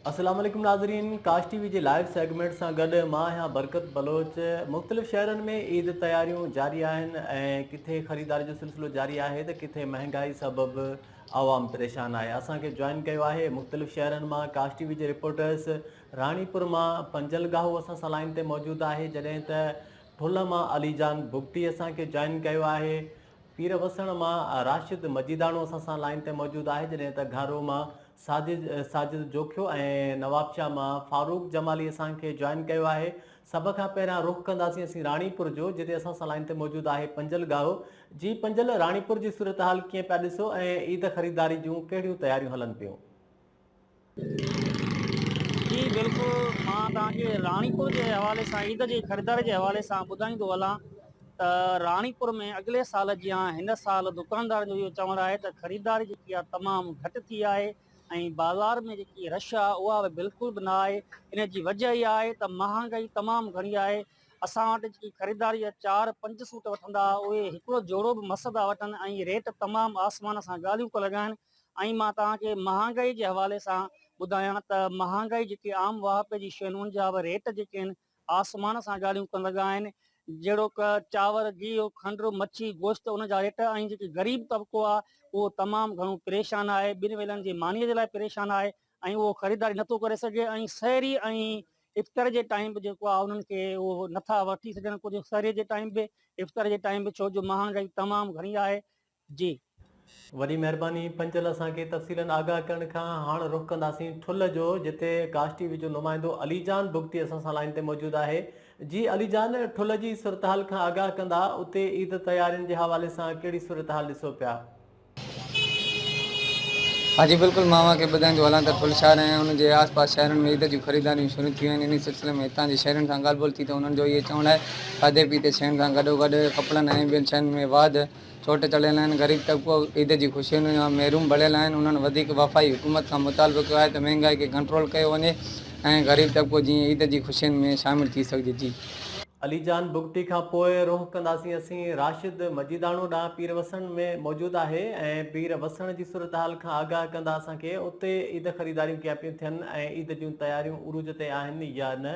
اسلام عليڪم ناظرين ڪاش ٽي وي جي لائيو سيگمينٽ سان گڏ مان آهيان برڪت بلوچ مختلف شهرن ۾ عيد تياريون جاري آهن ۽ ڪٿي خريداري جو سلسلو جاري آهي ته ڪٿي مهنگائي سبب عوام پريشان آهي اسان کي جوائن ڪيو آهي مختلف شهرن مان ڪاش ٽي وي جي رپورٽرس راڻي پور مان پنجل گاهو اسان سان لائن تي موجود آهي جڏهن ته ٺل مان علي جان بگٽي اسان کي جوائن ڪيو آهي پير وسڻ مان راشد مجيداڻو اسان سان لائن تي موجود آهي جڏهن ته گهارو مان ساجد ساجد جوکيو ۽ نوابشاهه مان فاروق جمالي اسان کي جوائن ڪيو آهي سڀ کان پهريان رخ ڪنداسين اسين راڻي پور جو جتي اسان سان لائين تي موجود آهي پنجل ڳاهو جي پنجل راڻي پور جي صورتحال ڪيئن پيا ڏسو ۽ عيد خريداري جون ڪهڙيون تياريون هلن پيون. جي بلڪل مان توهان کي راڻي پور جي حوالي سان عيد جي خريداري جي حوالي سان ٻڌائيندو هلان ته راڻيپور ۾ اڳلي سال جيان هن سال دڪاندارن جو اهو چوڻ آهي ته خريداري جيڪي آهي تمام گهٽ ٿي آهي ۽ بازار ۾ جيڪي رش آهي اها به بلڪل به نه آهي ان جي وجهه اها آهي ته مهانگائي تمام گهڻي آهي اسان وٽ جيڪي خريدار جا چار پنج سوٽ وٺندا اهي هڪڙو جوڙو به مس ٿا وٺن ۽ ريٽ تمام آسمان سان ڳالهيون ڪو لڳائن ۽ مان توهان کي مهانگائي جي حوالي سان ٻڌايان ته مهانگائي جيڪي عام واهپي جي شيون ان جا به ريٽ جيڪي آهن آسمان سان ڳالهيون ڪن لڳا آهن جهڙوڪ چانور، گيهه، کنڊ، مڇي، گوشت ان جا ريٽ ۽ جيڪي غريب طبقو آهي اهو تمام گهڻو پريشان آهي ٻن ويلن جي مانيء جي لاء پريشان آهي ۽ اهو خريداري نٿو ڪري سگهي ۽ سحري ۽ افطر جي ٽائيم به جيڪو آهي انهن کي اهو نٿا وٺي سگهن ڪجهه سحري جي ٽائيم به افطر جي ٽائيم به ڇو جو مهانگائي تمام گهڻي آهي جي. وڏي مهرباني پنچل اسان کي تفصيلن آگاهه ڪرڻ کان هاڻ رخ ڪنداسين ٺلهه جو جتي گاش ٽي وي جو نمائندو علي جان بگٽي اسان سان لائين تي موجود آهي جي علي جان ٺلهه جي صورتحال کان آگاهه ڪندا اتي عيد تيارين جي حوالي سان ڪهڙي صورتحال ڏسو پيا. ها جي بلڪل مان اوهان کي ٻڌائيندو هلان ته ٺلهه شهر ۽ ان جي آس پاس شهرن ۾ عيد جون خريداريون شروع ٿيون آهن انهي سلسلي ۾ هتان جي شهرين سان ڳالهه ٻولهه ٿي ته انهن جو اهي چوڻ آهي کاڌي پيتي شين سان گڏو گڏ ڪپڙن ۽ ٻين شين ۾ واڌ چوٽ چڙهيل آهن، غريب طبقو عيد جي خوشين جا محروم بڻيل آهن، انهن وڌيڪ وفاقي حڪومت کان مطالبو ڪيو آهي ته مهنگائي کي ڪنٽرول ڪيو وڃي ۽ غريب طبقو جيئن عيد جي خوشين ۾ شامل ٿي سگهجي. علي جان بگٽي کان پوء رخ ڪنداسين اسين راشد مجيداڻو ڏانهن پير وسڻ ۾ موجود آهي ۽ پير وسڻ جي صورتحال کان آگاهه ڪندا اسان کي اتي عيد خريداريون ڪيئن پيون ٿين ۽ عيد جون تياريون عروج تي آهن يا نه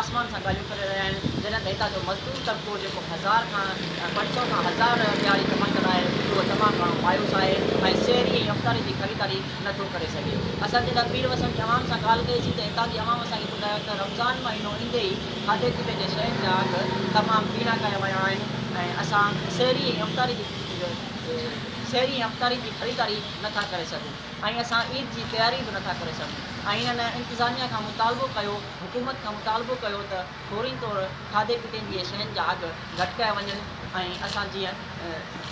آسمان سان ڳالهيون ڪري رهيا آهن جڏهن ته هتان جو مزدور طبقو جيڪو هزار کان پنج سؤ کان هزار ڏهاڙي ڪمائي ڪندا آهي اهو تمام گهڻو مايوس آهي ۽ سيري ۽ افطاري جي خريداري نه ٿو ڪري سگهي اسان جڏهن پير وسڻ جي عوام سان ڳالهه ڪئي سي ته هتان جي عوام اسان کي ٻڌايو ته رمضان مهينو ايندي ئي کاڌي پيتي جي شين جا اگهه تمام ٻيڻا ڪيا ويا آهن ۽ اسان سيري ۽ افطاري جي سيري ۽ افطاري جي خريداري نه ٿا ڪري سگهون ۽ اسان عيد جي تياري به نه ٿا ڪري سگهون ۽ هنن انتظاميا کان مطالبو ڪيو حڪومت کان مطالبو ڪيو ته فوري طور کاڌي پيتي جي شين جا اگهه گهٽ ڪيا وڃن ۽ اسان جيئن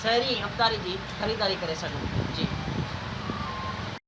سحري ۽ افطاري جي خريداري ڪري سگهون جي.